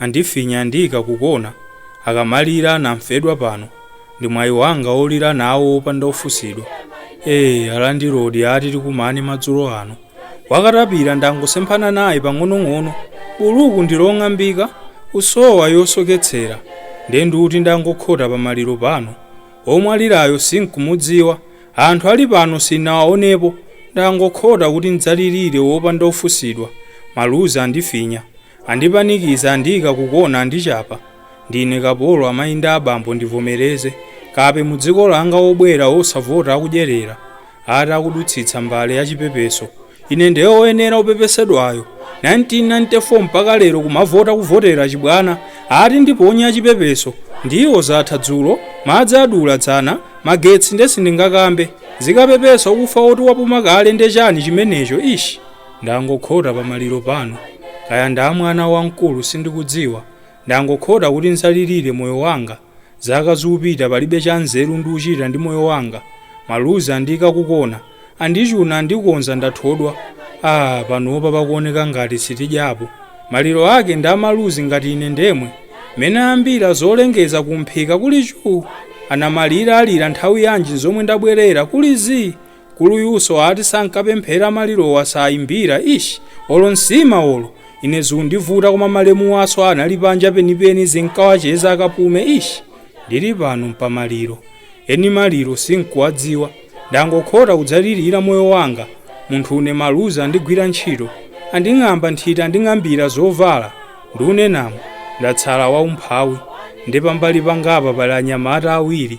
andifinya andiika kukona, akamalira anamfedwa pano ndi mwayi wanga wolira nawo opanda ofunsidwa ee alandilodi ati tikumane madzulo ano wakatapira ndangosemphana naye pang'onong'ono buluku ndi long'ambika usowa yosoketsera nde ndikuti ndangokhota pamaliro pano omwalirayo sinkumudziwa anthu ali pano sinnawaonepo ndangokhota kuti ndzalilire opanda ofunsidwa maluzi andifinya Andipanikiza andiika kukona andichapa ndine kapolo amayi ndi abambo ndivomereze kape mudziko langa Obwera osavota akudyerera ati akudutsitsa mbale yachipepeso ine nde oyenera opepesedwayo 1994 mpaka lero kumavota kuvotera chibwana ati ndiponye yachipepeso ndiwo zatha dzulo madzi adula dzana magetsi nde sindingakambe zikapepesa okufa woti wapuma kale nde chani chimenecho ish. Ndangokhota pa maliro pano, kaya ndi a mwana wamkulu sindikudziwa, ndangokhota kuti ndzalilire moyo wanga, zaka zupita palibe cha nzeru ndikuchita ndi moyo wanga, maluzi andiika ku kona, andichuna andikonza ndathodwa, aah panopa pakuoneka ngati sitidyapo, maliro ake ndi a maluzi ngati ine ndemwe, mmene ayambira zolengeza ku mphika kuli chuu, anamalira alira nthawi yanji nzomwe ndabwerera kuli zii, Nkuluyuso ati sankapemphera malirowa saimbira ish olo nsima olo ine zikundivuta koma malemuwaso anali panja penipeni zinkawacheza akapume ish ndili pano mpamaliro eni maliro sinkuwadziwa ndangokhota kudzalilira moyo wanga munthune maluzi andigwira ntchito anding'amba nthiti anding'ambira zovala ndunenamu ndatsala waumphawi nde pambali pangapa pali anyamata awiri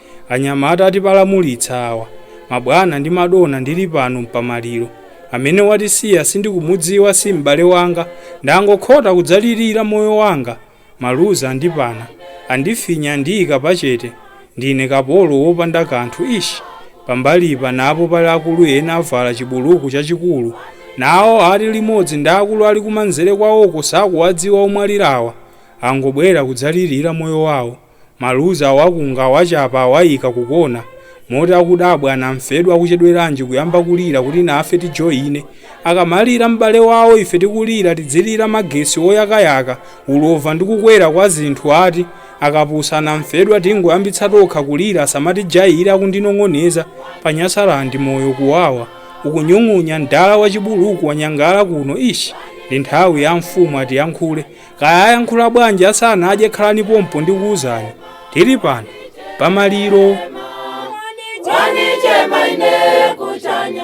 Anyamata atibalamutsa awa. Mabwana ndi madona ndili pano mpamaliro. Amene watisiya sindikumudziwa si m'bale wanga. Ndangokhota kudzalilira moyo wanga. Maluzi andipana. Andifinya andiika pachete. Ndine kapolo wopanda kanthu ish! Pambalipanapo pali akulu ena avala chibuluku chachikulu. Nawo ati limodzi ndi akulu ali kumanzere kwawoko sakuwadziwa omwalirawa. Angobwera kudzalilira moyo wawo. Maluzi awakunga, awachapa, awaika kukona, moti akudabwa, anamfedwa akuchedweranji kuyamba kulira kuti nafe tijoine? Akamalira m'bale wawo ife tikulira tidzilira magetsi oyakayaka, ulova ndi kukwera kwa zinthu ati? Akapusa anamfedwa tingoyambitsa tokha kulira asamatijaile akundinong'oneza. Pa Nyasaland moyo kuwawa. Ukunyung'unya mdala wachibuluku wanyangala kuno ish! Ndi nthawi ya amfumu atiyankhule. Kaya ayankhula bwanji asanadye khalani pompo ndikuwuzani. Tili pano pamaliro. Wanichema ine kuchanya